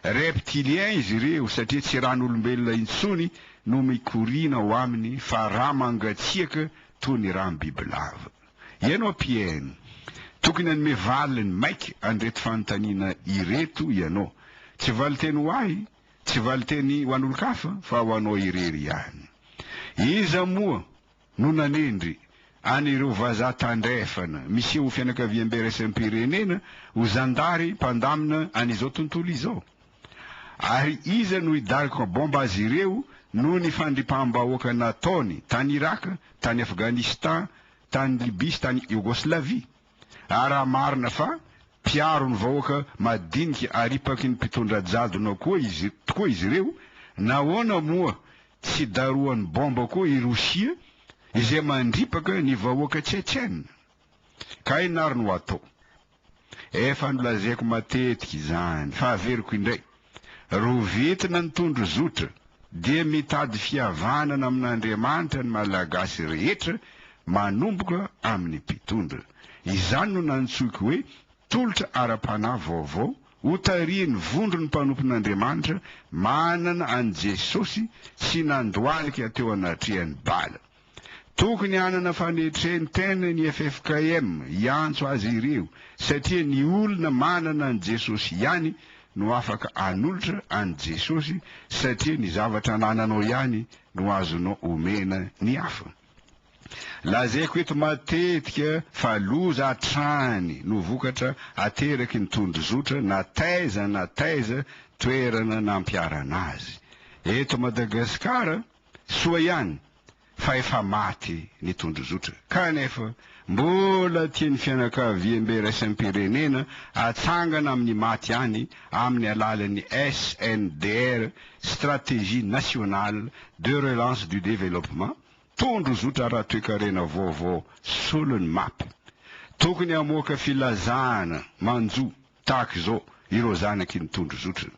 Reptiliens izy ireo satria tsy ran'olombelona intsony no mikoriana ao aminy fa rà mangatsiaka toy ny rà bibilava. Ianao mpihaino, tokony hanome valiny maika an'ireto fanontaniana ireto ianao. Tsy valinteny ho ahy, tsy valinteny ho an'olon-kafa fa ho anao irery ihany. Iza moa? no nanendry an' ireo vazaha tandrefana miseho ho fianakaviambe iraisam-pirenena ho zandary mpandamina an' izao tontolo izao? Ary iza no hidaroka baomba azy ireo noho ny fandripaham-bahoaka nataony tany Iraka, tany Afghanistan, tany Libia sy tany Iogoslavia? Ary raha marina fa mpiaro ny vahoaka madinika aripaky ny mpitondra jadona koa izy tokoa izy ireo, nahoana moa Tsy darohan'ny baomba koa i Rosia izay mandripaka ny vahoaka Tchetchène. Ka inona ary no hatao? Efa nolazaiko matetika izany, fa averiko indray, rovitina ny tondro zotra, dia mitady fihavanana amin'Andriamanitra ny Malagasy rehetra manomboka amin'ny mpitondra. Izany no nantsoiko hoe tolotra ara-panahy vaovao Hotarihin'ny vondron'ny mpanompon'Andriamanitra manana an'i Jesosy tsy nandohalika teo anatrehan'i Bala. Tokony hanana fanetren-tena ny ffkm hiantso azy ireo, satria ny olona manana an'i Jesosy ihany no afaka hanolotra an'i Jesosy, satria ny zavatra anananao ihany no azonao omena ny hafa. Lazaiko eto matetika fa loza hatrany no vokatra ateraky ny tondrozotra na taiza na taiza toerana nampiharana azy. Eto Madagasikara, soa ihany fa efa maty ny tondrozotra, kanefa Mbola tian'ny fianakaviambe iraisam-pirenena hatsangana amin'ny maty ihany amin'ny alalan'ny SNDR, Stratégie Nationale de Relance du Développement, tondrozotra ara-toekarena vaovao solon'ny map. Tokony hamoaka filazana manjo tahaka izao ireo zanaky ny tondrozotrany.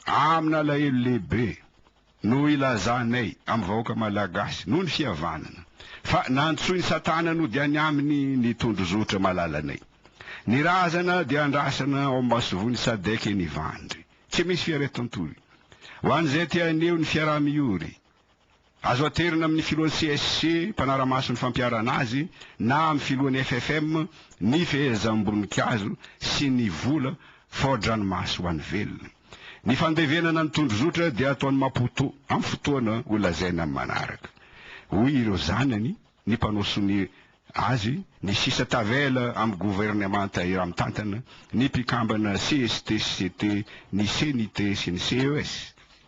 Amina alahelo lehibe No hilazanay amin'ny vahoaka Malagasy noho ny fihavanana fa nantsoin'i Satana nodiany aminy ny tondrozotra malalanay. Ny razana dia andrasana ao amin'ny masoivohon'i Sadec eny Ivandry. Tsy misy fiaretan-tory. Ho an'izay te haneho ny fiaraha-miory, azo aterina amin'ny filohan'ny CSC mpanara-maso ny fampiharana azy na amin'ny filohan'ny FFM ny fehezam-boninkazo sy ny vola fao-dranomaso ho an'ny velona. Ny fandevenana ny tondrozotra dia ataon'i Maputo amin'ny fotoana ho lazaina amin'ny manaraka. Hoy ireo zanany, ny mpanao sonia azy, ny sisa tavela amin'ny governemanta iray mitantana, ny mpikambana CST sy CT, ny CNIT sy ny CES.